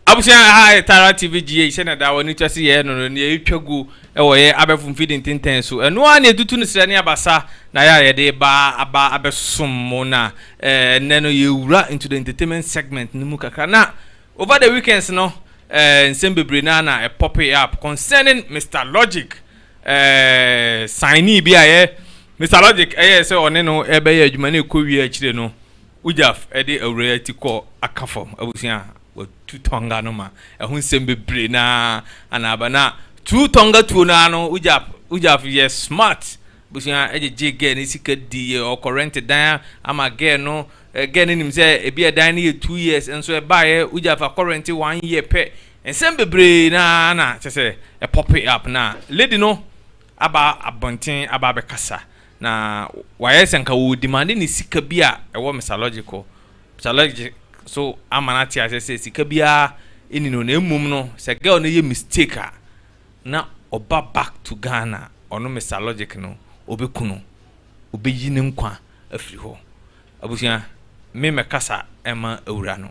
Abusua ha yɛ Tara TV GH sɛnea daa wɔn ani tua sɛ yɛyɛ no no, nea yɛtwa gu wɔ yɛn abɛɛfo mfidi ntentɛn so. Ɛno ara na yɛtutu no srɛ ne abasa na yɛ a yɛde reba aba abɛsom mo na eh, nnɛ no yɛwura into the entertainment segment no mu kakra. Na over the weekends no eh, nsɛm bebree na na ɛpope up concerning Mr Logic eh, signee bi a yɛ Mr Logic ɛyɛ sɛ ɔne no ɛbɛyɛ adwuma na ɛkɔ wie akyire no Ujaf de Awuraa yi ti kɔɔ Aka fam abusua a wɔtu Tonga no ma ɛho nsɛm bebree no ara ana aba. Na tu Tonga tuo no ara no, Ujaf, Ujaf yɛ smart abusua gyegyee girl no sika dii yɛ, ɔkɔ rent dan ama girl no, girl no nim sɛ ebi a dan no yɛ two years nso ɛbaeɛ, Ujaf akɔ rent one year pɛ, nsɛm bebree no ara na kyerɛ sɛ ɛ pope up na lady no aba abɔnten aba abɛkasa Na wayɛ sɛ anka ɔredimande ne sika bi a ɛwɔ Mister Logic hɔ. Mister Logic nso ama no ate aseɛ sɛ sika biara nni ne hɔ, na mmom no, sɛ girl no yɛ mistake a, na ɔba back to Ghana a, ɔno Mister Logic no, ɔbɛku no. Ɔbɛyi ne nkwa afiri hɔ. Abusua, me mɛkasa mma awuraa no.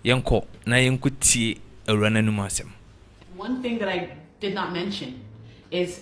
Yɛnkɔ na yɛnkɔtie awuraa no anom asɛm. One thing that I did not mention is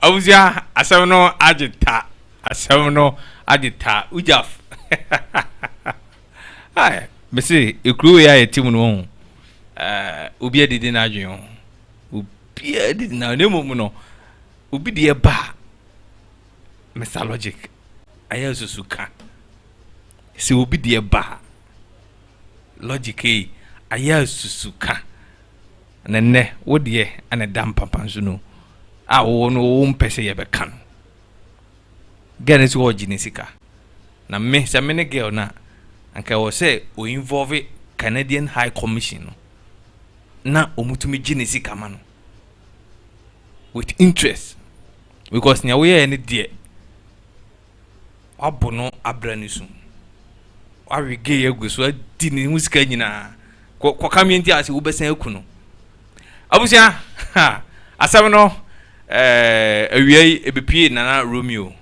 abusua asɛm no agye ta asɛm no agye ta ugyaf mese ekuro wei a yɛte mu no ho obi adidi n'adwene ho obi adidi na ne mmom no obi deɛ ba mr logic ayɛ susu ka sɛ obi deɛ ba logic yi ayɛ asusu ka na nnɛ wo deɛ ɛna da mpampan so no a wɔwɔ no wɔwɔ mpɛ sɛ yɛbɛka no girl no sɛ ɔregye ne sika na me sɛ me ne girl no a anka ɛwɔ sɛ o involve Canadian High Commission no na wɔtumi gye ne sika ma no with interest because nea woyɛɛ no deɛ Wɔabo no abra ne su. Wɔawe gay agu so adi ne ho sika nyinaa. Kɔ kɔka me nti ase wobɛsan aku no. Abusua ha asɛm no ɛɛ awia yi ebepie nana Romeo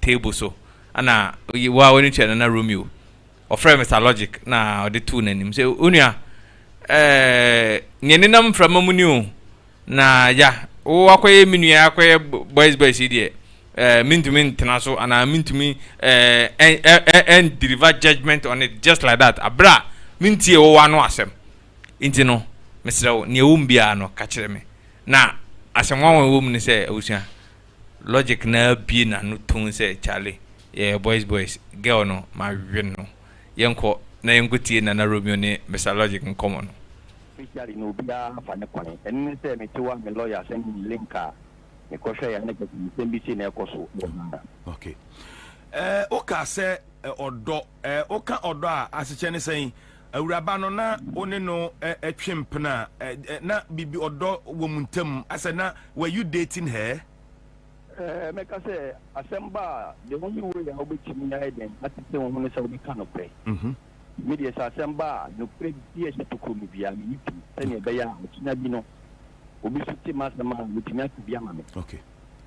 table so. Ana wo a wɔne tua nana Romeo. Ɔfrɛ Mr Logic na ɔde too n'anim sɛ onua ɛɛ nea nenam mframa mu ni o Na Yah, wo akɔyɛ me nua akɔyɛ boys boys yi deɛ, eh, mentumi ntena so anaa mentumi eh, and deliver judgment on it just like that aberɛ a mentie wo w'ano asɛm. Nti no, mesrɛ wo, nea ɛwɔ mu biara no, ka kyerɛ me. Na asɛm nwanwa a ɛwɔ mu ne sɛ, abusua, Logic no ara bue n'ano tumm sɛ, Kyale, yɛyɛ boys boys, girl no, mawe no. Yɛnkɔ na yɛnkɔtie Nana Romeo ne Mister Logic nkɔmmɔ no. Especially na obiara afa ne kwan. Ɛno ne sɛ mete hɔ a me lawyer send me link a me kɔ hwɛ yɛ ne kɛse nsɛm bi sei na ɛkɔ so wɔ Ghana. Ok eh woka sɛ eh, ɔdɔ eh, woka ɔdɔ a asekyɛ ne sɛn? Awuraba no na wo ne no eh, eh, twe mpena eh, eh, na bibi ɔdɔ wɔ mu ntam asɛ na were you dating her? Eh, mɛka sɛ asɛm ba a the only way a wobɛtumi ayɛ dɛn atete wo ho ne sɛ wobɛka nokorɛ. Mm-hmm. Me deɛ, sɛ asɛm ba a, nokorɛ bi a ɛhyɛ tokuro mu biara, meyi tom sɛdeɛ ɛbɛyɛ a akyina bi no, obi nso te m'asɛm a, watumi aka bi ama me.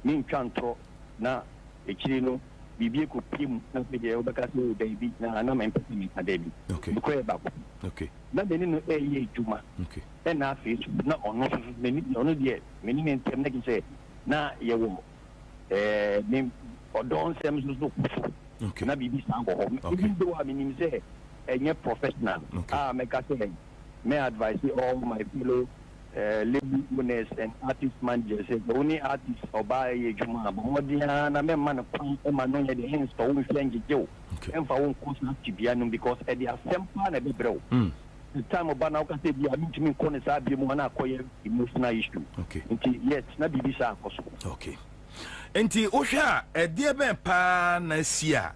Mentwa ntorɔ na akyire no biribi akɔpue mu na afei deɛ wobɛka sɛ oo dabi, na na mempɛ sɛ meka dabi. Mekɔyɛɛ baako pɛ. Na me ne no reyɛ adwuma, ɛnna afei nso na ɔno nso, ɔno deɛ me ne ne ntam na kyerɛ sɛ na yɛwɔ ɛɛ ne ɔdɔ nsɛm nso so kɔ so okay. na biribi saa wɔ hɔ okay. even though a menim sɛ ɛnyɛ professional okay. a mɛka sɛ mɛ advice all my fellow uh, label owners and artist managers sɛ wo ne artist ɔbaa ɛyɛ adwuma a bɔ mmɔden ara na mɛma no kwan ɛma no nyɛ de hensɔ wo nhwɛ ngyegye wo ɛmfa wo nkɔ saa tibea no because ɛde asɛm paa na ɛbɛbrɛ wo mm. the time ɔba na ɔka sɛ bi a mentumi nkɔ ne saa bia mu a na akɔyɛ emotional issue okay. nti yet na biribi saa akɔ so okay. nti wohwɛ a ɛdeɛ bɛn paa na asi a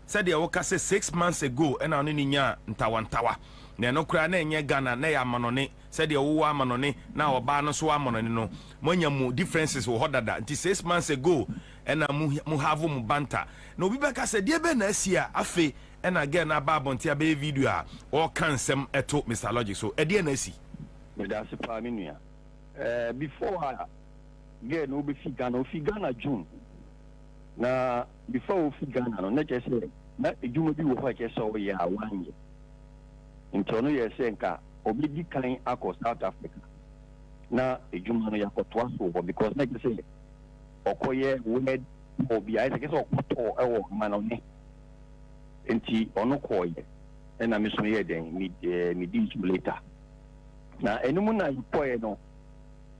sɛdeɛ woka sɛ six months ago ɛna ɔne ne nyaa ntawantawa na ɛno koraa na ɛnyɛ ghana na ɛyɛ amanɔne sɛdeɛ wowɔ amanɔne na ɔbaa no so amanɔne no moanya mu differences wɔ hɔ dada nti six months ago ɛna mu have mu banta na obi bɛka sɛ deɛ bɛn na asi a afei Ɛna girl no aba abɔnten abɛyɛ video a ɔɔka nsɛm ɛto Mister Logic so. Ɛdeɛn na asi? Medase paa me nua. Ɛɛ before a girl no ɔbɛfi Ghana, ɔfi Ghana June. Na before a ɔfi Ghana no na kyerɛ sɛ na adwuma bi wɔ hɔ a ɛkyerɛ sɛ ɔyɛ a wanyɛ. Nti ɔno yɛɛ sɛ nka ɔbɛdi kan akɔ South Africa na adwuma no yɛakɔtoa so wɔ hɔ because na kyerɛ sɛ ɔkɔyɛ word tour bi a ayɛ sɛ kyerɛ sɛ ɔkɔtɔɔ ɛwɔ Manone. Nti ɔno kɔɔeɛ ɛna me so yɛɛ dɛn me ɛɛ me dii so later. Na ɛno mu na yɛkɔɔeɛ no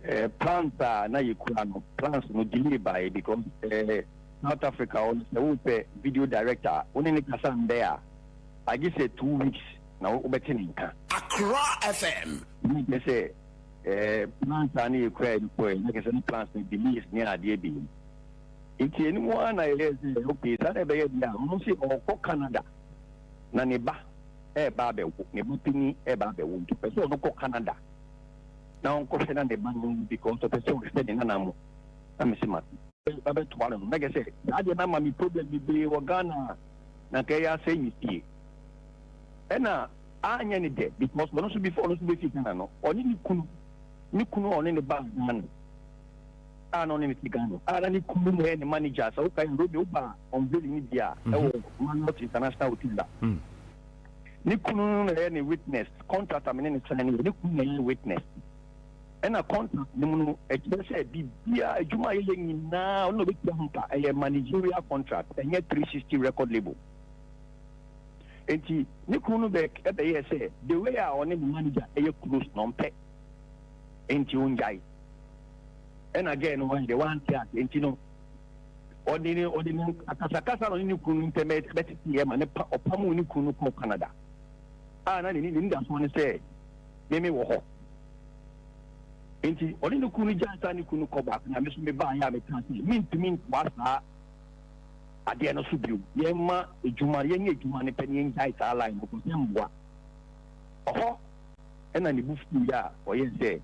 ɛɛ plans a na yɛkura no plans no delay baeɛ because ɛɛ South Africa hɔ no sɛ wopɛ video director a wo ne ne kasa ndɛ a agye sɛ two weeks na wobɛte ne nka. Accra FM. Wei kyerɛ sɛ ɛɛ plans a na yɛkuraeɛ no kɔɔeɛ na kyerɛ sɛ ne plans no delays ne adeɛ biem. Enti ɛno mu ara na yɛyɛɛ sɛ, Okay, saa na ɛbɛyɛ deɛ a, Mose ɔrekɔ Canada, na ne ba reba abɛwo, ne ba panin reba abɛwo, nti ɔpɛ sɛ ɔno kɔ Canada na ɔnkɔhwɛ na ne ba no nwu because ɔpɛ sɛ ɔhwɛ ne nana mo. Na mese, Mate. Bɛbɛtoa no no. Na kyerɛ sɛ, saa deɛ no ama me problem bebree wɔ Ghana a, na anka ɛyɛ asɛe me fie. Ɛna anyɛ ne dɛ because ɔno nso before ɔno nso bɛfiri Ghana no, ɔne ne kunu, ne kunu a ɔne no baa Ghana, a na ɔne no te Ghana a na ne kunu no yɛ ne manager. Sɛ wokae a, Romeo baa unveiling no bi a ɛwɔ Marriott International Hotel a ne kunu no na ɛyɛ ne witness. Contract a me ne no sign no yɛ ne kunu na ɛyɛ witness. Ɛna contract no mu no ɛkyerɛ sɛ biribiara adwuma a yɛyɛ nyinaa ɔno na ɔbɛtua ho ka. Ɛyɛ managerial contract, ɛnyɛ 360 record label. Enti ne kunu no bɛ ɛbɛyɛɛ sɛ the way a ɔne ne manager ɛyɛ close no ɔmpɛ. nti ongyae. Ɛna gɛɛ no wɔn deɛ wante ase nti no ɔde ne ɔde ne akasakasa no ne ne kunu ntɛm bɛtete yɛ ma ne pa ɔpa mu ne kunu no kɔ Canada a na ne ne ne dasoɔ no sɛ meme wɔ hɔ nti ɔne ne kunu gya nsa ne kunu kɔ baako na me so mebaa yɛ a meka sɛ mentumi nkoa saa adeɛ no so bio yɛma adwuma yɛnyɛ adwuma no pɛ ne yɛngyae saa line no kɔ sɛ mmoa ɔhɔ Ɛnna ne bo fuwii a ɔyɛe sɛ,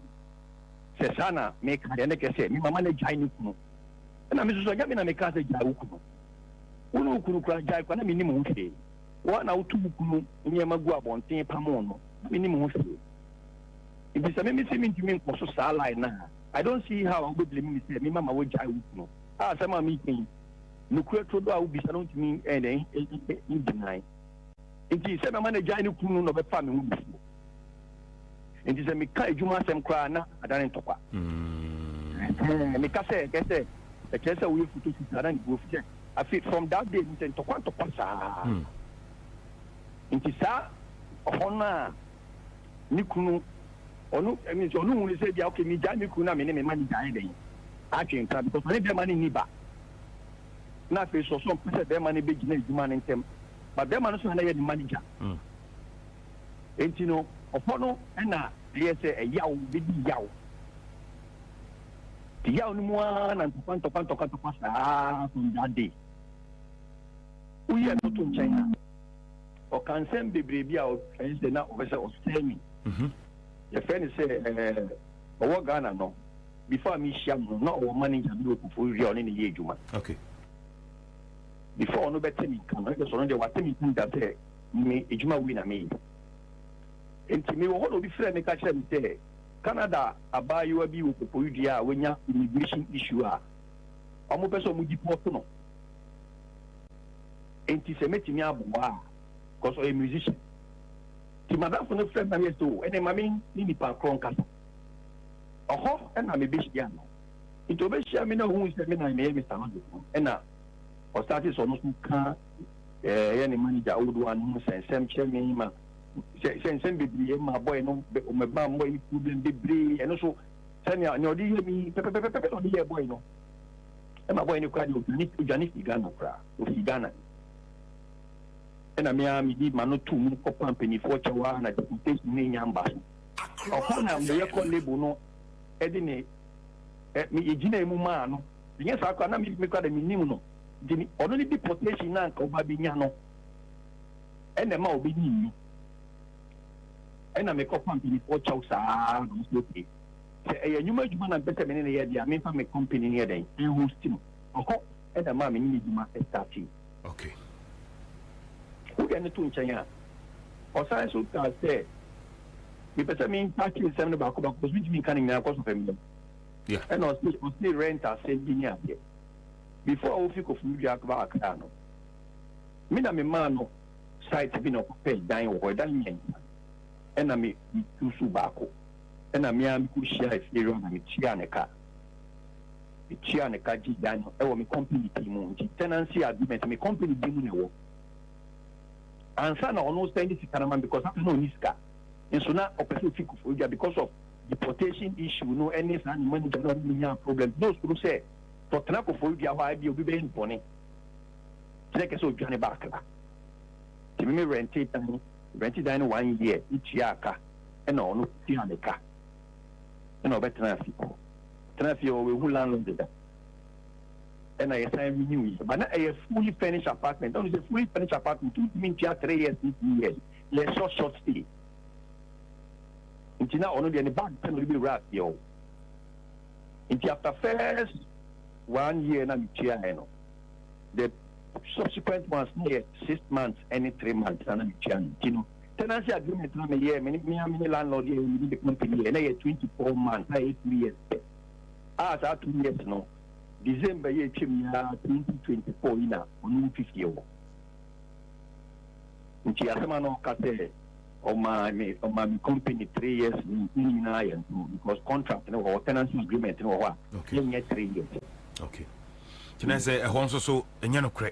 Sɛ saa na meka deɛ, na ɛkyerɛ sɛ me mama no agyae ne kunu. Ɛnna me nso so, ɛnyɛ me na mekaa sɛ, 'Gyae wo kunu'? Wo ne wo kunu koraa gyae kwa, na mennim ho hwee. Wo ara na wotu wo kunu nneɛma gu abɔnten pamoo no, na mennim ho hwee. Enti sɛ meme se mentumi nkɔ so saa line no a, I don't see how a wobɛblame me sɛ me mama wagyae wo kunu. A Asɛm a mereka yi, nokorɛ turodoo a wobisa no ntumi ɛn dɛn ngyinae. Enti sɛ mɛma no agyae ne kunu no na ɔbɛfa me ho bufuo. Enti sɛ meka adwuma asɛm koraa na adane ntɔkwa. Ɛɛ, meka sɛ ɛkɛ sɛ ɛkyerɛ sɛ woyɛ futofu saa na ne buo fɛ. Afei from that day no sɛ ntɔkwa ntɔkwa saa. Enti saa ɔhɔ no a ne kunu ɔno ɛmi sɛ ɔno hunu sɛ bia okay megyae me kunu na me ne me ma ne gyae dɛn atwe nka because ɔne bɛrima no nni ba na afei so ɔso mpɛ sɛ bɛrima no bɛgyina adwuma no ntɛm But bɛrima no so na yɛ ne manager. Mm. Enti no, ɔhɔ no na ɛyɛ sɛ ɛyaw bɛdi yaw. Nti yaw no mu ara na ntɔkwa ntɔkwa ntɔkwa ntɔkwa saa from that day. Woyɛ no to nkyɛn a, ɔka nsɛm bebree bi a ɛyɛ sɛ na ɔpɛ sɛ ɔsɛe me. Mhm. Yɛfrɛ no sɛ ɛɛ ɔwɔ Ghana no, before a mehyia no na ɔwɔ manager bi wɔ Koforidua a ɔne ne yɛ adwuma. Okay. before ɔno bɛte me nka no ɛsɛ sɛ ɔno deɛ wate me nka da sɛ me adwuma wei na meyɛ nti mewɔ hɔ na obi frɛ me ka kyerɛ me sɛ Canada abaayewa bi wɔ popoyidua a wanya immigration issue a ɔmo pɛ sɛ ɔmo deport no nti sɛ mɛtumi aboa a cause ɔyɛ musician nti madamfo no frɛ me na meyɛ sɛ o ɛne ma me ne nipa korɔ nkasa ɔhɔ ɛna mebɛhyia no nti ɔbɛhyia me na ɔhuu sɛ me na meyɛ Mr. Logic no ɛna ɔsate sɛ ɔno nso ka ɛyɛ ne manager old one no sɛ nsɛm kyerɛ me ma sɛ nsɛm bebree ma bɔe no ɔmɛba mmɔ yi problem bebree ɛno so sɛnea nea ɔde yɛ mi pɛpɛpɛpɛpɛ na ɔde yɛ bɔe no ɛma bɔe no kora de odwane odwane fi Ghana koraa ofi Ghana ɛna mmea medi ma no to mu kɔpa mpanimfoɔ kyɛw a na deportation ne nya mba so ɔkɔ na meyɛ kɔ label no de ne ɛ me yɛgyinaa mu maa no, ɛnyɛ saa koraa na me me koraa deɛ mennim no, nti me ɔno ne deportation no a anka ɔba bɛnya no ɛna ɛma ɔbɛnyim no, ɛna mekɔfa mpanimfoɔ kyɛw saa ara na ɔsɛ okay sɛ ɛyɛ nnwuma adwuma na mpɛ sɛ me ne no yɛ deɛ a memfa me company no yɛ dɛn ɛhosti no ɔhɔ ɛna ɛma me ne no adwuma ɛstartee. Okay. Wode no to nkyɛn a, ɔsan nso kaa sɛ, mepɛ sɛ mempaakye nsɛm no baako baako, ɔsɛ ntumi nka no nyinaa kɔ so fam dɛm. Ɛna ɔse ɔse rent asɛm bi ne adeɛ. Before a wofi Koforidua akaba Accra no, me na memaa no site bi na ɔkɔpɛ dan wɔ hɔ, ɛdan mmiɛnsa. Ɛna me susu baako. Ɛna me ara mekɔhyiaa Afie Road na metuaa ne ka. Metua no ka gye dan no wɔ me company pii mu nti tenancy agreement me company din mu na ɛwɔ ansa na ɔno send sika no ma me because afei na ɔni sika nso na ɔpɛ sɛ ofi Koforidua because of deportation issue no ɛne saa ne manager no a ɔne nya problem na osuro sɛ sɛ ɔtena Koforidua hɔ a ebi obi bɛyɛ no bɔne kyerɛ kɛ sɛ odwane ba Accra nti me me rente dan rente dan no one year metua ka ɛna ɔno tua ne ka ɛna ɔbɛtena ase tena ase ɔwɔ ehu landlord da ɛna yɛsan renew yi ba na ɛyɛ fully furnished apartment ɔno sɛ fully furnished apartment ntumi ntua three years ne two years yɛ short short stay nti na ɔno deɛ ne bag pɛ na ɔde bɛwura aseɛ o nti after first one year na metua ɛ no the subsequent ones na yɛ six months ɛne three months na na metua no nti no Tenancy agreement na me yɛɛ me ne me a me ne landlord yɛ yɛ me de company yɛ na yɛ twenty four months a yɛ two years pɛ a saa two years no December yɛ atwam yi ara twenty twenty four yi na ɔno nfi fie hɔ nti asɛm a na ɔka sɛ ɔma me ɔma me company three years no ne nyinaa yɛ nto because contract no wɔ hɔ tenancy agreement no wɔ hɔ a yɛnyɛ three years. Okay. Kyerɛ sɛ ɛhɔ nso so ɛnyɛ no korɛ.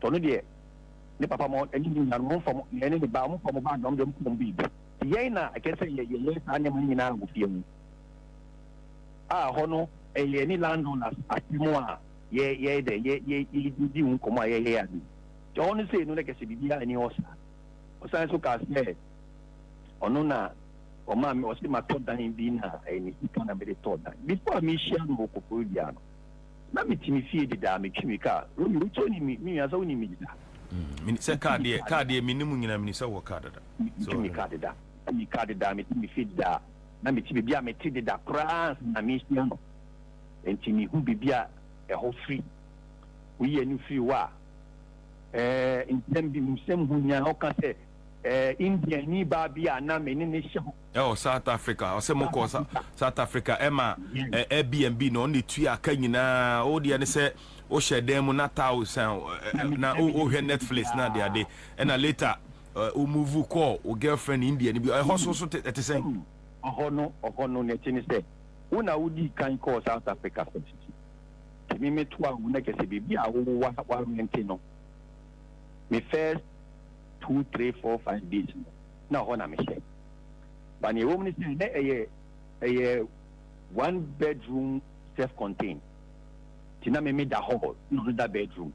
sɛ ɔno deɛ ne papa mo ne ne nuanom mo mfa mo na ɛne ne ba mo mfa mo ba dɔm dɔm kɔm babe yɛn na ɛkɛ sɛ yɛ yɛyɛ saa nneɛma no nyinaa wɔ fie ho a hɔ no ɛyɛ ne landlord asɛm a yɛ yɛ dɛ yɛ yɛ yɛ di ho nkɔmɔ a yɛyɛ ade nti hɔ no sei no na kɛsɛ biribi a ɛni hɔ saa ɔsan so kaa sɛ ɔno na ɔmaa me ɔsi ma tɔ dan bi na ɛyɛ ne sika na mede tɔ dan before a mehyia no wɔ kɔkɔɔ dua no Na mete me fie dedaa metwi me car Romy wo kyɛ nim me nua sɛ wonim me dedaa. Meni sɛ car deɛ car deɛ meni mu nyina meni sɛ wɔ car dada. Metwi me car dedaa metwi me car dedaa mete me fie dedaa na mete bebia mete deda koraa ansa na mehyia no nti mehu bebia ɛhɔ firi woyi ani firi hɔ a ɛɛ nsɛm bi nsɛm ho nyaa ɔka sɛ ɛɛ Indiani baa bi a na mene no hyɛ hɔ Ɛwɔ South Africa, ɔsɛ mo kɔ South Africa ɛma Airbnb na ɔne tui aka nyinaa, wo deɛ ne sɛ wo hyɛ dan mu na taa osan na wo hwɛ Netflix na ade ade, ɛna later wo move kɔ wo girlfriend India ni bi, ɛhɔ so so ɛte sɛn? Ɔhɔ no ɔhɔ no na ɛte ne sɛ wo na wo di kan kɔ South Africa first, ti me me to a wo na kyɛ sɛ baabi a wo wa wa rente no me first two three four five days no. na hɔ na mehyɛ. But nea ɛwɔ mu ne sɛ na ɛyɛ ɛyɛ one bedroom self contained nti na me me da hall na ɔno da bedroom.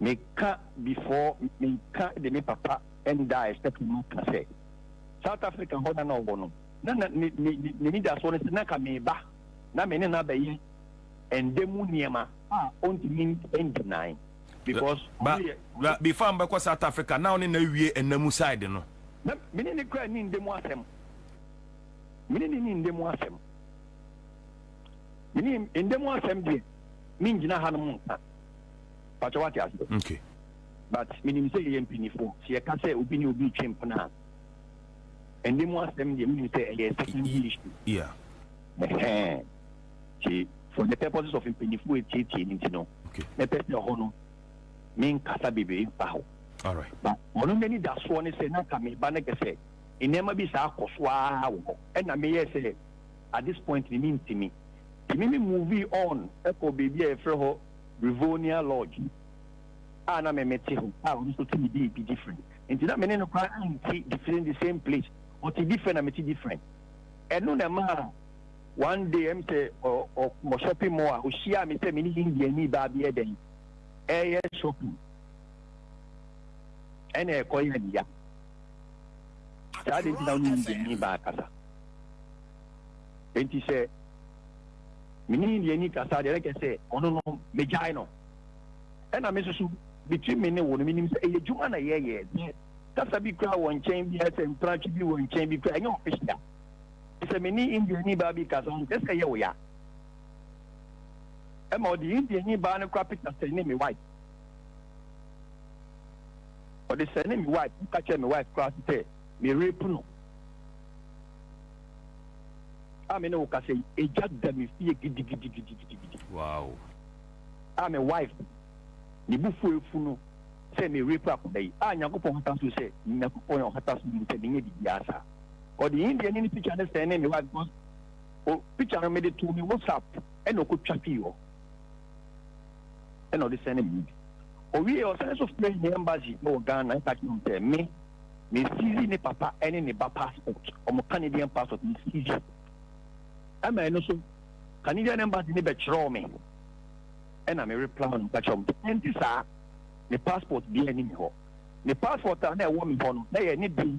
Meka before meka de me papa nda a ɛhyɛ ka mu ka sɛ South Africa hɔ na na ɔwɔ no na na ne ne ne n'anidasoɔ no sɛ na ka meba na me ne no abɛyɛ ɛnda mu nneɛma a ɔntumi ndi nan. because Bra ɔno yɛ bra before a mobɛkɔ South Africa na wo ne no awie ɛna mu side no. Na me ne no koraa nni nda mu asɛm. Me ne no nni nda mu asɛm. Me ne nda mu asɛm deɛ mengyina hanom nka. Pakyɛ wate aseɛ. Okay. But menim sɛ yɛyɛ mpanyinfoɔ sɛ yɛka sɛ obi ne obi retwe mpena a ɛnda mu asɛm deɛ menim sɛ ɛyɛ secondary issue. Yeah. Ɛhɛn. nti for the purposes of mpanyinfoɔ etietie ne nti no mɛpɛ sɛ ɛhɔ no me nkasa bebree mfa ho ba ɔno n'ani da soɔ ne sɛ n'aka me ba ne kɛ sɛ nneɛma bi saa akɔ so ara wɔ hɔ ɛna meyɛ sɛ at this point ne mi ntumi tumi mi movie on ɛkɔ beebi a yɛfrɛ hɔ Rivonia Lodge a na me mete ho a ɔno nso tumi bi ebi different nti na me ne no kora nti different the same place ɔte different na mete different ɛno na ɛmaa One day ɛm sɛ ɔ ɔ wɔ shopping mall a ohyiaa me sɛ me ne Indiani baa bi yɛ dɛn ɛɛyɛ shopping ɛna ɛkɔ yɛ ne ya saa de nti na ɔne Indiani baa kasa enti sɛ me ne Indiani kasa deɛ ɛkɛ sɛ ɔno no megyae no ɛna me soso between me ne wo no menim sɛ ɛyɛ adwuma na yɛyɛ kasa bi kura wɔ nkyɛn bi ɛsɛ mpratwe bi wɔ nkyɛn bi kura ɛnyɛ official Te sɛ me ne Indiani baa bi kasa, ɔmpɛ sɛ ɛyɛ wo ya. Ɛma ɔde Indiani baa no kora pita sɛ ne me wife. Ɔde sɛ ne me wife, ɔka kyerɛ me wife kora se sɛ me rape no. A me ne wo kasa yi, egya da me fie gidigidigidigidigidi. Wow. A me wife, ne bu fu efu no sɛ me rape akɔda yi. A Nyankopɔn hata so sɛ, Nyankopɔn yɛ ɔhata so nim sɛ menyɛ biribiara saa. ɔde Indiani no picture no sɛnee me wife because o picture no mede too me WhatsApp ɛna ɔkɔtwa fii hɔ ɛna ɔde sɛne me bi owie ɔsɛne so frɛ ne embassy wɔ Ghana ɛka kyerɛ sɛ me me sisi ne papa ɛne ne ba passport ɔmo Canadian passport me sisi ɛma ɛno so Canadian embassy ne bɛkyerɛw me ɛna me reply no ka kyerɛ ɔmo ɛnti saa ne passport bi ɛne me hɔ ne passport a na ɛwɔ me hɔ no na yɛ ne bi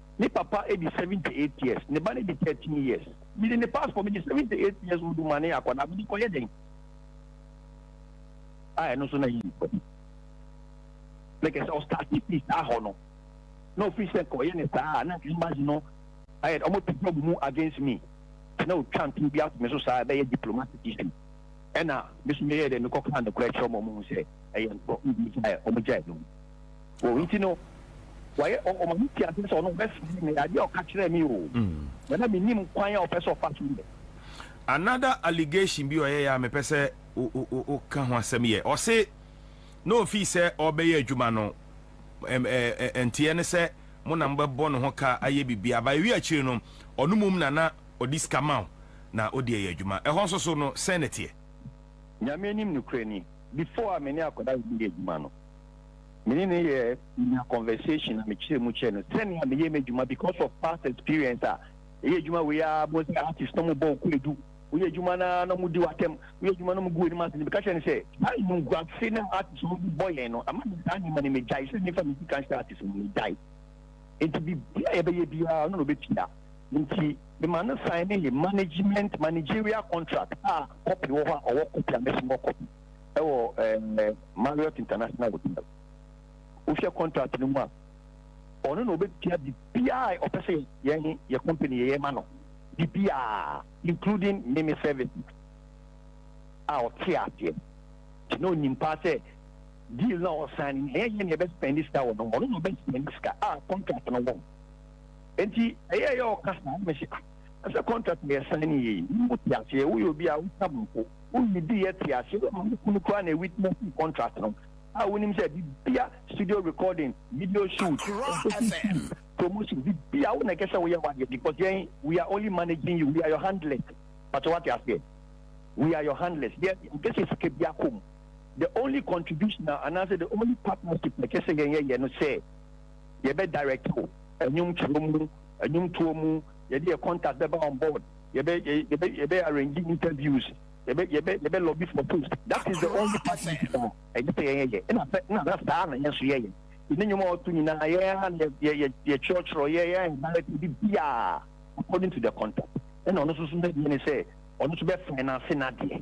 Me papa di seventy eight years, ne ba no di thirteen years. Mede ne passport, mede seventy eight years old ma ne akwadaa, mede kɔyɛ dɛn? A ɛno nso na yɛ nipa bi. Na kɛ sɛ ɔstarte firi saa hɔ no, na ofiri sɛ nka ɔyɛ ne saa a, na nka embassy no ayɛ dɛ ɔmo to job mu against me. Nti na otwa ntoro bi ato me so saa, ɛbɛyɛ diplomatic issue. Ɛna me nso meyɛɛ dɛ mekɔkaa nokorɛ kyerɛɛ ɔmo, ɔmo hu sɛ ɛyɛ ntorɔ, ntumi gyae, ɔmo gyae no mu. o nti no wayɛ ɔma me ti ase sɛ ɔno bɛsɛe me adeɛ a ɔka kyerɛɛ me o na na menim kwan a ɔpɛ sɛ ɔfa so yɛ another allegation bi ɔyɛ yɛ a mepɛ sɛ woka ho asɛm yɛ ɔse na ofii sɛ ɔbɛyɛ adwuma no nteɛ ne sɛ mo na mobɛbɔ ne ho ka ayɛ biribi aba ɛwi akyire no ɔno mum na na ɔde sika ma na ɔde ɛyɛ adwuma ɛhɔ nso so no sɛn ne teɛ nyame anim nokorɛ ni before a me ne akɔda yɛ adwuma no me ne no yɛ nya conversation na mekyerɛ mu kyerɛ no sɛnea meyɛ m'adwuma because of past experience a ɛyɛ adwuma wei a mo sɛ artist na mo bɔ ɔkɔ edu woyɛ adwuma na na mo di w'atɛm woyɛ adwuma na mo gu anim ase ne meka kyerɛ no sɛ saa nnuguase na artist no bɔ yɛn no ama me saa nneɛma no megyae sɛ mefa me sika nhyɛ artist no megyae nti biribi a yɛbɛyɛ biara ɔno na ɔbɛtua nti mema no sign ne management managerial contract a copy wɔ hɔ a ɔwɔ copy a mɛsomɔ copy ɛwɔ ɛɛ Marriott International Hotel. Wohwɛ contract no mu a, ɔno na ɔbɛtua biribiara a ɔpɛ sɛ yɛn yɛ company yɛyɛ ma no, biribiara including meme service a ɔte aseɛ nti na ɔnim paa sɛ deal na ɔsan no ɛyɛ yɛn na yɛbɛspɛndi sika wɔ no ho, ɔno na ɔbɛspɛndi sika a contract no wɔ ho. Nti ɛyɛ yɛ ɔka saa na mesi ah ɛsɛ contract na yɛsan no yie, mu te aseɛ woyɛ obi a woka mpo. Wonni bi yɛ te ase wɔ ma wo kunu koraa na witnessing contract no a wonim sɛ bibia studio recording, video shoot, ɛnkɔsi film promotion bibia wo na ɛkɛ sɛ woyɛ wadeɛ because yɛn we are only managing you we are your handlers pakyɛ wate aseɛ we are your handlers yɛ ɛnkɛ sɛ sika bia kɔ mu the only contribution a anaasɛ the only partnership na ɛkɛ sɛ yɛn yɛyɛ no sɛ yɛbɛ direct wo ɛnwom twerɛ mu ɛnwom toɔ mu yɛde yɛ contact bɛba on board yɛbɛ yɛbɛ yɛbɛ arrange interviews yɛbɛ yɛbɛ yɛbɛ lobby for post that is the only part yɛ saa ɛnyɛ sɛ yɛyɛ yɛ ɛna sɛ ɛna sɛ saa na yɛn nso yɛyɛ yɛn ne nnwuma ɔto nyinaa yɛn yɛ yɛ yɛ yɛ kyerɛkyerɛ yɛ yɛ ɛnbɛrɛ ti bi biara according to the contact ɛna ɔno nso so n'adwuma ne sɛ ɔno nso bɛ finance n'adeɛ.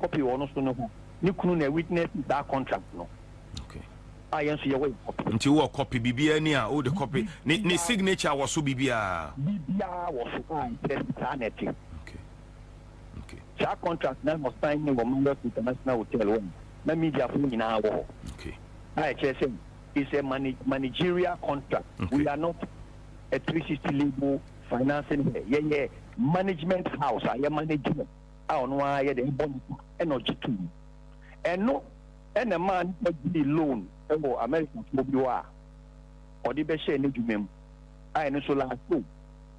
copy wɔ ɔno so no ho ne kunu na witness saa contract no a yɛn nso yɛwɔ yɛ copy nti wɔ copy biribiara ni a o de copy ne ne signature wɔ so biribiara biribiara wɔ so a ɛkyerɛ sɛ saa na ɛte saa contract na wɔ sign ne wɔ Marriott International Hotel wɔ na media fo nyinaa wɔ hɔ a ɛkyerɛ sɛ it's a managerial contract okay. we are not a 360 label financing here yɛyɛ management house a yɛ management a ɔno ara yɛ dɛn bɔ nipa na ɔgye to mu. Ɛno na ɛmaa nipa gyee loan wɔ Amerikafoɔ bi hɔ a ɔde bɛhyɛɛ n'adwuma mu a ɛno nso lasso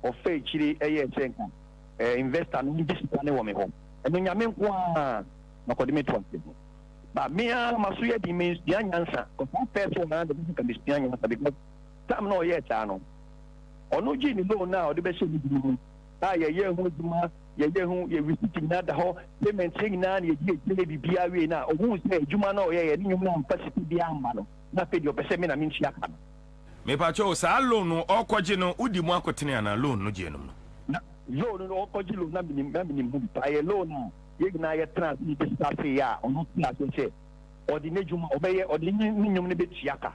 ɔfa akyire yɛɛ sɛ nka investor no ɔngye sika no wɔ me hɔ. Ɛno Nyame nko ara na ɔkɔde me to ase ho. But me ara maso yɛ den mansua nyansa because saa first one no ara deɛ ɛbɛsɛ nka mesua nyansa because time na ɔyɛɛ saa no ɔno gyee ne loan no a ɔde bɛhyɛɛ n'adwuma mu a yɛyɛɛ ho adwuma, yɛyɛɛ ho, yɛ receipt nyinaa da hɔ, payment yɛ nyinaa na yɛde agyina biribiara wie na ɔhuu sɛ adwuma no a ɔyɛeɛ ne nnwom no amfa sika biara amma no na afei deɛ ɔpɛ sɛ me na mentua ka no. Mepakyɛw, saa loan no ɔrekɔgye no wodi mu akotene anaa? Loan no gyeɛ nom no. Na loan no ɔrekɔgye loan na menim na menim ho bi paa. Ɛyɛ loan a yɛn nyinaa yɛtenaa ase yɛbisa ase yɛ a ɔno te ase sɛ ɔde n'adwuma ɔbɛyɛ ɔde ne ne nnwom no bɛtua ka.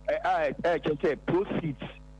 Ɛ a ɛkyerɛ sɛ proceeds.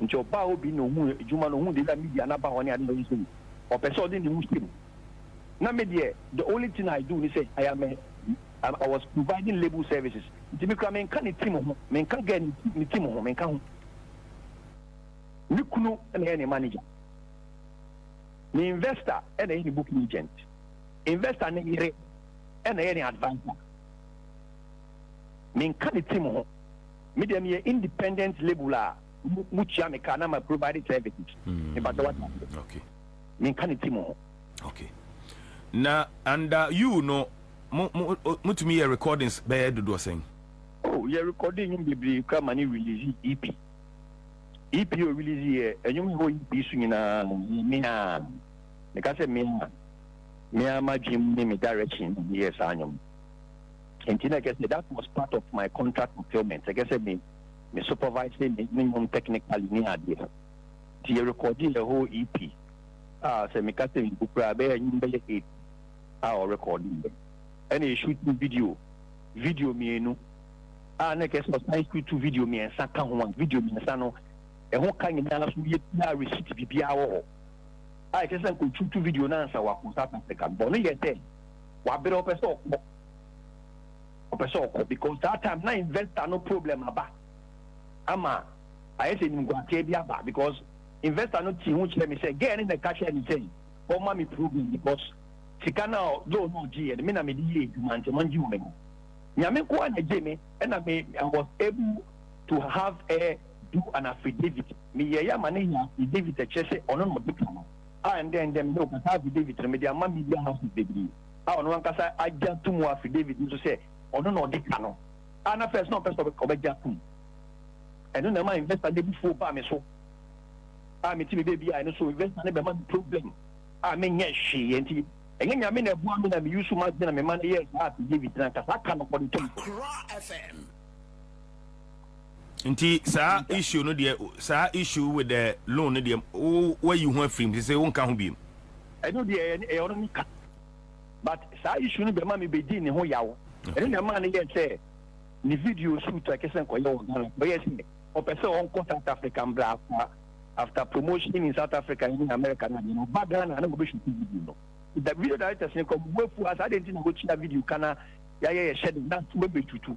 Nti ɔbaa hɔ bi na ohuu edwuma no, ohun dɛ na media n'aba hɔ ne ade na ɔyɛ sei. Ɔpɛ sɛ ɔde ne ho hyɛ mu. Na me deɛ, the only thing I do ne sɛ, I am a, I'm, I was providing label services. Nti me kora menka ne team ho, menka girl no ti, ne team ho, menka ho. Me kunu na ɛyɛ ne manager. Me investor na ɛyɛ ne booking agent. Investor ne yere na ɛyɛ ne adviser. Menka ne team ho. Me deɛ meyɛ independent label a mo tua me ka na ma provide services. Mepa kyɛw wate aseɛ. Okay. Menka ne team ho. Okay. Na under you no mo mo mo tumi yɛ recordings bɛyɛ dodoɔ sɛn? Oh yɛ recording nnwom bebree kura ma ne release EP. EP o release yɛ nnwom a ɛwɔ EP so nyinaa me a meka sɛ me a me a m'adwene mu ne me direction na meyɛɛ saa nnwom no. Enti na ɛkyerɛ sɛ that was part of my contract fulfilment. Ɛkyerɛ sɛ me me supervise me me nnwom technically ne adeɛ. Nti yɛ recordee a whole EP a sɛ meka sɛ mbu koraa ɛbɛyɛ nnwom bɛyɛ eight a wɔ recordee yɛ. Ɛna yɛ shooting video video mmienu a na ɛkyerɛ sɛ ɔsan shootu video mmiɛnsa ka ho a video mmiɛnsa no ɛho ka nyinaa so yɛ biara receipt biribiara wɔ hɔ a ɛkyerɛ sɛ nka ɔshootu video no ansa wakɔ South Africa. Bɔ no yɛ sɛ Wabere ɔpɛ sɛ ɔkɔ. Ɔpɛ sɛ ɔkɔ because that time na investor no problem aba ama ayɛ sɛ nimguateɛ bi aba because investor no tii ho kyerɛ me sɛ girl no na ɛka kyerɛ me sɛ ɔma me problem because sika no a loan no ɔgyeeɛ no me na mede yɛ adwuma nti ɔngye wɔ me hɔ. Nyame nko ara na ɛgye me ɛna me I was able to have her do an affidavit. Meyɛeɛ ama no yɛ affidavit ɛkyerɛ sɛ ɔno na ɔde ka no. A ndɛ ndɛ mede ɔkasa affidavit no mede ama media houses bebree a ɔno ankasa agye atom wɔ affidavit no so sɛ ɔno na ɔde ka no a na first na ɔmpɛ sɛ ɔbɛgye atom. Ɛno na ɛmaa investor no abufuo baa me so a mete me baabi a ɛno so investor no bɛma me problem a menyɛ hwee nti ɛnyɛ Nyame na ɛboa me na me use m'adwene na mema no yɛɛ saa affidavit no ankasa aka no ɔde tom so. Accra FM. Nti saa issue no deɛ saa issue with the loan no deɛ wayi ho afirim te sɛ wonka ho biem. ɛno deɛ ɛyɛ ɛyɛ ɔno ne ka but saa issue no bɛma me bɛdi ne ho yaw ɛno na ɛmaa no yɛ sɛ ne video shoot a ɛkɛ sɛ nkɔyɛ wɔ Ghana ɔyɛ sɛ ɔpɛ sɛ ɔnkɔ South Africa mbra afa after promotion in South Africa ne America na deɛ no ɔba Ghana na ɔbɛshoot video no the video directors no kɔ mu afu asa adɛn nti na wɔkyia video ka na yɛayɛ yɛhyɛ de na wɔbɛtutu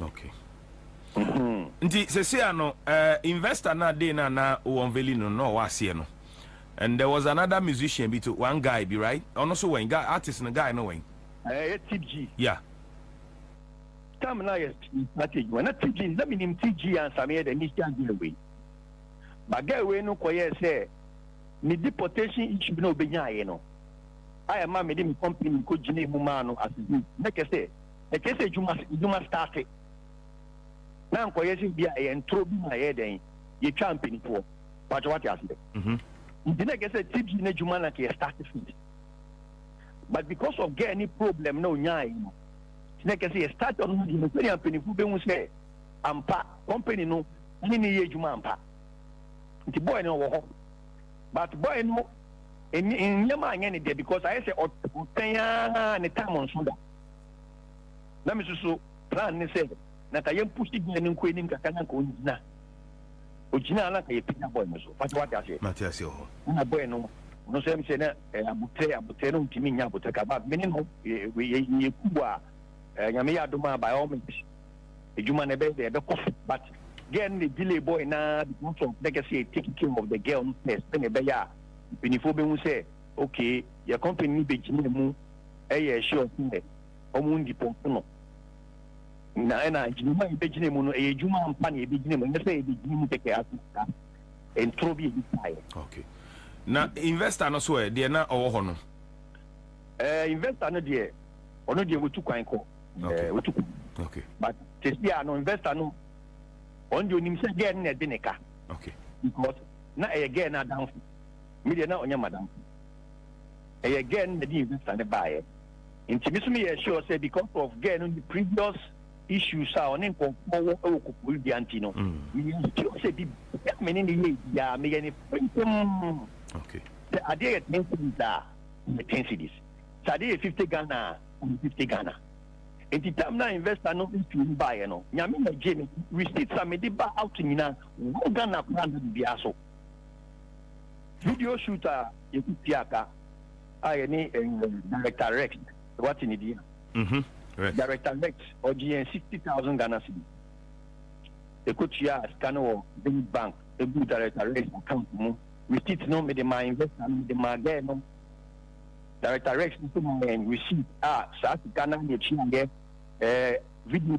okay mm-hmm. nti sɛsɛ a no uh, investor na day na na wɔn veli no na ɔwɔ aseɛ no and there was another musician bi to one guy bi right ɔno so wɔn guy artist no guy no wɔn. ɛɛ yɛ tip g. yeah. tam na yɛ package wɔn na tip g na mi nim tip g ansami yɛ dɛ mi si adi ɛwɛ baga ɛwɛ no kɔ yɛ sɛ ne deportation issue na obe nya ayɛ no ayɛ maa mi de mi company mi ko gyina emu maa no asese ne kɛse. ɛkyɛ sɛ adwuma adwuma starte na nkɔyɛ sɛ bi a ɛyɛ ntoro bi ma yɛ dɛn yɛtwa mpanimfoɔ pakyɛ wate aseɛ mhm. nti na ɛkyɛ sɛ tv no adwuma na kɛyɛ starte fit but because of girl ne problem na ɔnyae no nti na ɛkyɛ sɛ yɛ starte ɔno deɛ no sɛdeɛ mpanimfoɔ bɛhu sɛ ampa company no ne ne yɛ adwuma ampa nti boy no wɔ hɔ but boy no nneɛma anyɛ ne deɛ because ayɛ sɛ ɔtɛn ara ne tam nso da na me nso so plan ne sɛ na nka yɛn pusi gyina ne nko anim kakra na nka ɔngyina ɔgyina na nka yɛpagya bɔɔl no so pati wate aseɛ mate aseɛ wɔ hɔ na bɔɔl no ɔno nso ɛm sɛ na eh, abotrɛ abotrɛ na ɔntumi nya abotrɛ ka ba mene no yɛku bɔ a eh, nyame yɛ adom a by all means adwuma no ɛbɛyɛ dɛ ɛbɛkɔ so but girl no na delay boy na because of na kɛsɛ yɛ take care of the girl no first sɛ na ɛbɛyɛ a mpanimfoɔ bɛhu sɛ okay yɛ company no bɛgyina mu yɛɛ sure sɛ ɔmo ndipɔɔto no. Na ɛna gyinamu a yɛbɛgyina mu no, ɛyɛ adwuma ampa na yɛbɛgyina mu, ɛnyɛ sɛ yɛbɛgyina mu kɛkɛ ase saa. Ntorɔ bi a ebi taa yɛ. Okay. Na investor no so ɛ, deɛ na ɔwɔ hɔ no? Ɛɛ eh, investor no deɛ, ɔno deɛ wɔtu kwan kɔ. Okay. Eh, wɔtu kwan. Okay. But sisi a no investor no, ɔno deɛ onim sɛ girl no na ɛde ne ka. Okay. Because na ɛyɛ girl no adamfo. Me deɛ na ɔnyɛ madamfo. ɛyɛ girl no na ɛde nsa ne baeɛ nti me so me yɛ sure sɛ because of girl no ne previous issues a ɔne nkɔmfoɔ wɔ ɛwɔ kɔkɔɔ dua nti no mm. me yɛ sure sɛ bi bɛ me ne ne yɛ biara me yɛ ne fɛntɛm sɛ adeɛ yɛ ten cities a yɛ ten cities sɛ adeɛ yɛ fifty Ghana a yɛ fifty Ghana nti tam na investor no ntu mu baeɛ no nyame na gye me receipt a mede ba out nyinaa wɔn Ghana koraa na biribiara so. Video shoot a yɛtu tua ka a yɛne Director Rex wate ne din a. Mhm Rex. Director Rex ɔgye yɛn sixty thousand Ghana cedis. Ekotua sika no wɔ Zenith Bank egu Director Rex account mu. Receipt no mede maa investor no mede maa girl no. Director Rex nso maa yɛn receipt a saa sika no ara na etuaeɛ ɛɛ video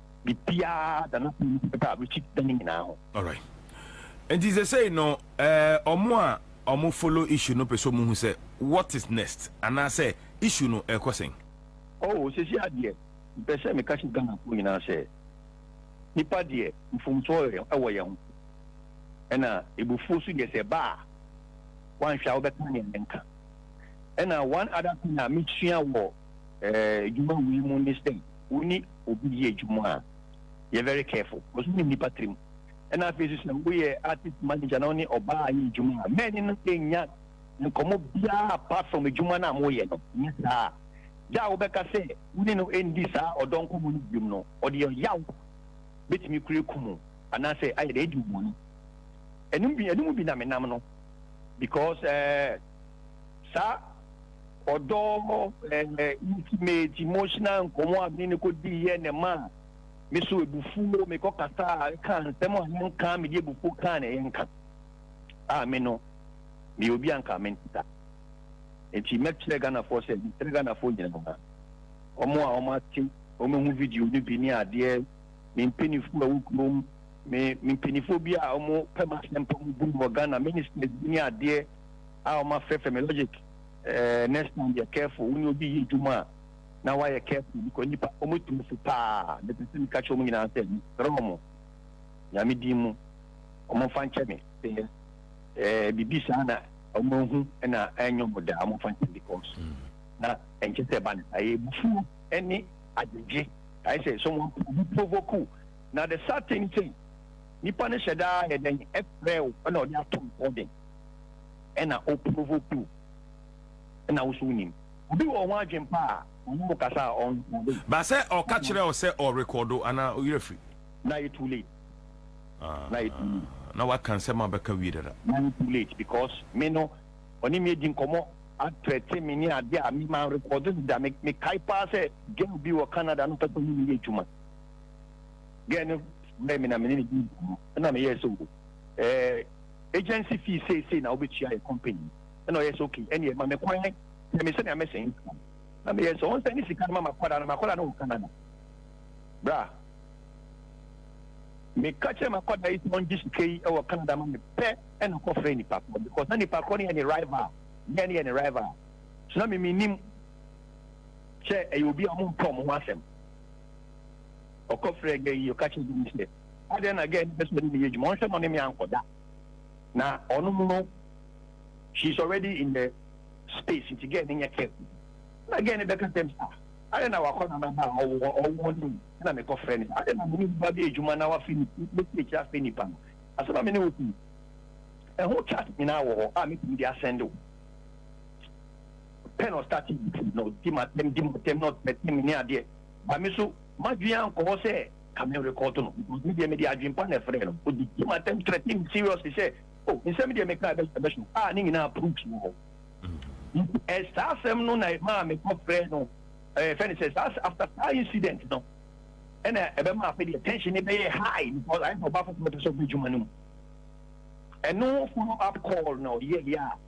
biribiara da no pii no bɛba Richie's da no nyinaa ho. Alright. Nti sɛsɛi no eh, ɔmo a ɔmo follow issue no pɛ sɛ ɔmo hu sɛ what is next anaasɛ issue no ɛrekɔ sɛn? Oh, sɛsɛi adeɛ, mepɛ sɛ meka kyerɛ Ghanafoɔ nyinaa sɛ, nnipa deɛ mfomsoɔ wɔ yɛn ho, ɛna abufuo nso deɛ sɛ ɛba a, woanhwɛ a wobɛka nea menka. Ɛna one other thing a mesua wɔ adwuma wei mu ne sɛ wo ne obi yɛ adwuma a yɛ very careful because wonim nipa tirim ɛna afei nso sɛ woyɛ artist manager na wo ne ɔbaa yɛ adwuma a mɛni no ɛnya nkɔmmɔ biara apart from adwuma no a moyɛ no ne saa gya a wobɛka sɛ wo ne no ɛndi saa ɔdɔ nkɔmmɔ no biom no ɔde ɔyaw bɛtumi kura ku mu anaasɛ ayɛ dɛ ɛdi mmɔne ɛnum bi ɛnum bi na menam no because ɛɛ eh, saa ɔdɔ ɛɛ intimate emotional nkɔmɔ a mi ne ko di yɛ na ɛma me so ebufuo me kɔ kasa a ɛka nsɛm a yɛn nka me de ebufuo kaa na yɛn nka a me no me obi a nka me nta nti mɛkyerɛ Ghanafoɔ sɛ mɛkyerɛ Ghanafoɔ nyinaa wɔn a wɔn ate wɔn ehu video no bi ne adeɛ me mpanyinfoɔ a ɛwɔ kurom me me mpanyinfoɔ bi a wɔn pɛ ma asɛm pɔm bu wɔ Ghana ministers bi ne adeɛ. a wɔafrɛfrɛ me logic eh, next time yɛ careful wo ne obi yɛ adwuma a na woayɛ careful because nipa wɔtumi fo paa mepɛ sɛ meka kyerɛ mu nyinaa sɛ mesrɛ mo nyame din mu ɔmomfa nkyɛ me sɛ eh, biribi saa na ɔmahu na ɛnyɛ mo daa ɔmomfa nkyɛ because mm. na ɛnkyɛ sɛ ɛba ne saa yɛ bufuo ne agyegye ayɛ sɛ sɛ wɔprovoku na the sad thing sɛ Nipa no hyɛ daa yɛ dɛn? Ɛfrɛ wo na ɔde ato recording ɛna o provoke wo ɛna wo so wo nim. Obi wɔ ho adwen pa a ɔne wo kasa a ɔn record wo. But sɛ ɔka kyerɛ wo sɛ ɔ record wo anaa wo werɛ firi. Na ayɛ too late. Ah, Na ayɛ too late. na waka nsɛm a bɛka wie dada. Na ayɛ too late because me no ɔne me adi nkɔmɔ a threaten me ne ade a me ma record no da. Me me kae paa sɛ girl bi wɔ Canada na ɔpɛ sɛ ɔne me yɛ adwuma. girl no frɛɛ me na me ne no dii nkɔmmɔ ɛna meyɛɛ sɛ o eh, agency fee seesei na wobɛtua yɛ company ɛna ɔyɛ sɛ ok ɛneɛ ma me kwan kyerɛ me sɛnea mɛsɛn income na meyɛ sɛ ɔnsɛ ne sika no ma makwadaa no makwadaa no wɔ Canada bra meka kyerɛ makwadaa yi sɛ ɔngye sika yi wɔ Canada ma me pɛ ɛna kɔfrɛ nipa korɔ because na nipa korɔ no yɛ ne rival yɛ ne yɛ ne rival so na memenim sɛ ɛyɛ obi a ɔmo mpɛ ɔmo ho asɛm Ɔkɔ frɛ gɛ yi ɔka kyerɛ gɛ yi sɛ adɛn na gɛ no pɛ sɛ ɔne ne yɛ adwuma ɔnhwɛ na ɔne me ankɔ da na ɔno mu no she is already in the space nti gɛ no nyɛ careful na gɛ no bɛka sɛ me ah adɛn na wakɔ na naba a ɔwɔ ɔwɔ ne mu na mekɔ frɛ ne adɛn na mene nipa bɛ adwuma na wafe ne mɛsi akyiri afɛ nipa no asɛm a mene wo fi ɛho chat nyinaa wɔ hɔ a mɛtumi de asɛnde wo pɛ na ɔstate butu na ɔdi m'atɛm di m'atɛm na ɔtematema me ne adeɛ ba me so m'adwene ankɔ hɔ sɛ ka me rekɔɔto no because me deɛ mede adwene pa na ɛfrɛɛ no ɔde di m'atɛm threaten me seriously sɛ o oh, nsɛm deɛ mekaa bɛhyɛ bɛhyɛ a ne nyinaa proofs wɔ hɔ mm-hmm. saa asɛm no na ɛmaa mekɔfrɛ no ɛfɛ ne sɛ saa after saa incident no ɛna ɛbɛma afei deɛ tension ne bɛyɛ high because ayɛ sɛ ɔba foforɔ pɛ sɛ ɔbɛ adwuma no mu ɛno follow up call na ɔyɛ yɛ a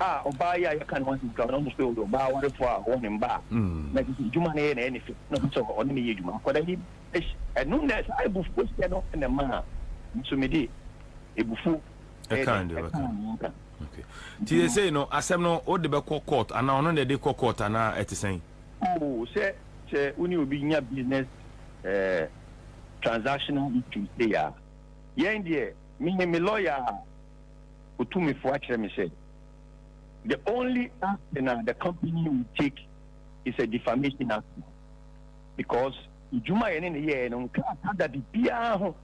a ɔbaa yi a yɛka ne ho asɛm kura no ɔne Phil no ɔbaa awarefo a ɔwɔ ne mma a na ɛsɛ sɛ adwuma no yɛ na ɛyɛ ne fɛ na ɔpɛ sɛ ɔne ne yɛ adwuma. Akwadaa yi hyɛ ɛno na saa abufuo hyɛ no na ɛmaa me nso mede abufuo ɛkaa ne nka. Nti sɛsei no asɛm no wode bɛkɔ court anaa ɔno na ɛde kɔ court anaa ɛte sɛn? Oo sɛ sɛ wo ne obi nya business eh, transactional issues sei a yɛn deɛ me ne me lawyer a otumifo akyerɛ me sɛ, The only action a the company will take is a defamation action because adwuma a yɛne no yɛɛ no nkaa kada bibiara ho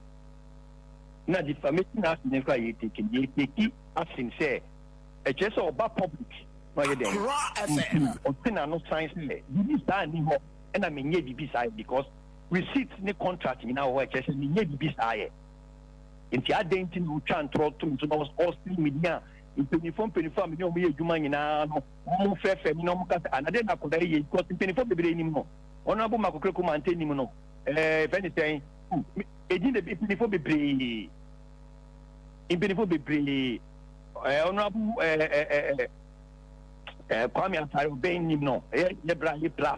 na defamation action no koraa yɛteki yɛteki action sɛ ɛkyerɛ sɛ ɔba public na ɔyɛ dɛn ɔte n'ano san sɛ biribi saa nni hɔ ɛna menyɛ biribi saa yɛ because receipt ne contract nyinaa wɔ hɔ ɛkyerɛ sɛ menyɛ biribi saa yɛ Enti adɛn nti na wotwa ntorɔ to me so na wɔse menya mpanyimfoɔ mpanyimfoɔ a me ne wɔn yɛ adwuma nyinaa no wɔfrɛfrɛ me na wɔka sɛ ana dɛn na akwadaa yi yɛ because mpanyimfoɔ bebree nim no honorable makokore komante nim no ɛɛ fɛ ne sɛn ɛdin de mpanyimfoɔ bebree mpanyimfoɔ bebree ɛɛ honorable ɛɛ ɛɛ ɛɛ kwame asare ɔbɛn nim no ɛyɛ yɛ bra yɛ bra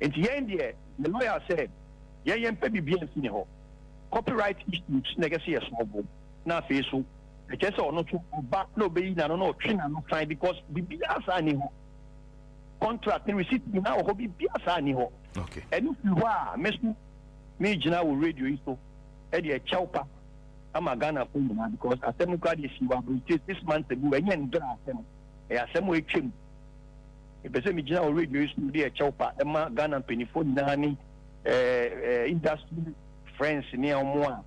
Nti yɛn deɛ yɛ lawyer sɛ yɛn yɛn pɛ biribiaa nsi ne hɔ. Copy right issues na ɛkɛ sɛ yɛ sɔɔ bo na afei so ɛkyerɛ sɛ ɔno so ɔba na ɔbɛyi n'ano na ɔtwe n'ano fine because biribiaa saa nni hɔ. Contract ne receipt nyinaa wɔ hɔ biribiaa saa nni hɔ. Ɛno firi hɔ a me so megyina wɔ radio yi so de ɛkyɛw pa ama Ghanafoɔ nyinaa because asɛm no koraa deɛ ɛsii wɔ abrotire six months ago ɛnyɛ ndora asɛm ɛyɛ asɛm a ɛtwam. Mepɛ sɛ megyina wɔ radio yi so de ɛkyɛw pa ma Ghana mpanimfoɔ nyinaa ne ɛɛ industry friends ne a wɔn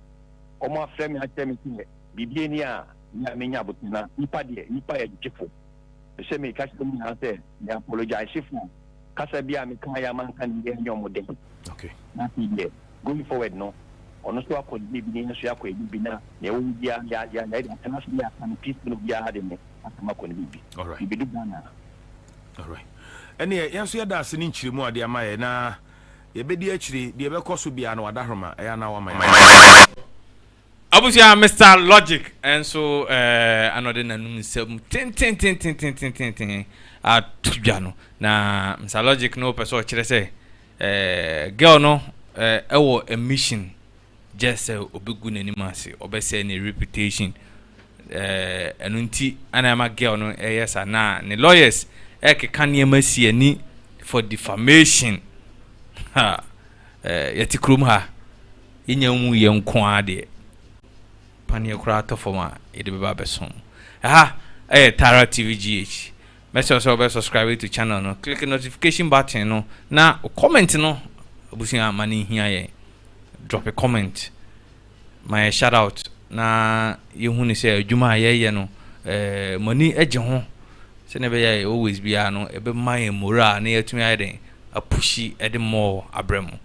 a wɔn afrɛ me akyerɛ me sɛ biribi ani a na menya abotire na nipa deɛ nipa yɛ gyefo. Mepɛ sɛ meka kyerɛ mu nyinaa sɛ me apologize fo kasa bi a meka yɛ ama nka ne yɛ nyɛ wɔn dɛ. Okay. Na afei deɛ going forward no ɔno nso akɔ ne baabi ne yɛn nso yɛakɔ yɛn baabi na nea ɛwɔ mu biara yɛ yɛ yɛ yɛ atena ase yɛ aka no peacefully obiara de ne asɛm akɔ ne baabi. Yɛbɛdu Ghana a. Alright. Ɛneɛ yɛn nso yɛda ase ne nkyerɛmu a ɔde ama yɛ na yɛbɛdi akyire deɛ ɛbɛkɔ so biara no wadahoroma ɛyɛ anaa wama yɛ. Abusua Mister Logic nso eh, ana ɔde n'anum nsɛm tententententententen ato dwa no na Mister Logic no pɛ sɛ ɔkyerɛ sɛ eh, girl no eh, ɛwɔ emission Just sɛ ɔbɛgu n'anim ase, ɔbɛsɛe ne reputation. Eh, ɛno nti ana ɛma girl no ɛyɛ sa na ne lawyers ɛkeka nneɛma si ani for defamation. Ha, eh, yɛte kurom ha, yɛnya mu yɛ nko ara deɛ. Paneɛ koraa atɔ fam a yɛde bɛba abɛsom. Ɛha ɛyɛ Tara TVGH. Mɛsrɛ wo sɛ wobɛ subscribe to channel no, click notification button no, na wo comment no abusua ma no nhia yɛn. Drop a comment ma yɛ shout out na yɛhu ne sɛ adwuma a yɛyɛ no eh, mo ani gye ho sɛnea ɛbɛyɛ a always biara no ɛbɛma yɛn moral na yɛatumi ayɛ dɛn apushi ɛde mɔɔ abrɛ mu.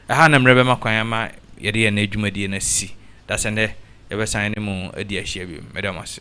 Ɛha na mmerɛ bɛma kwan ama yɛde yɛn adwumadie no asi. Dasɛ nnɛ yɛbɛsan ne mu adi ahyia bio. Meda mo ase.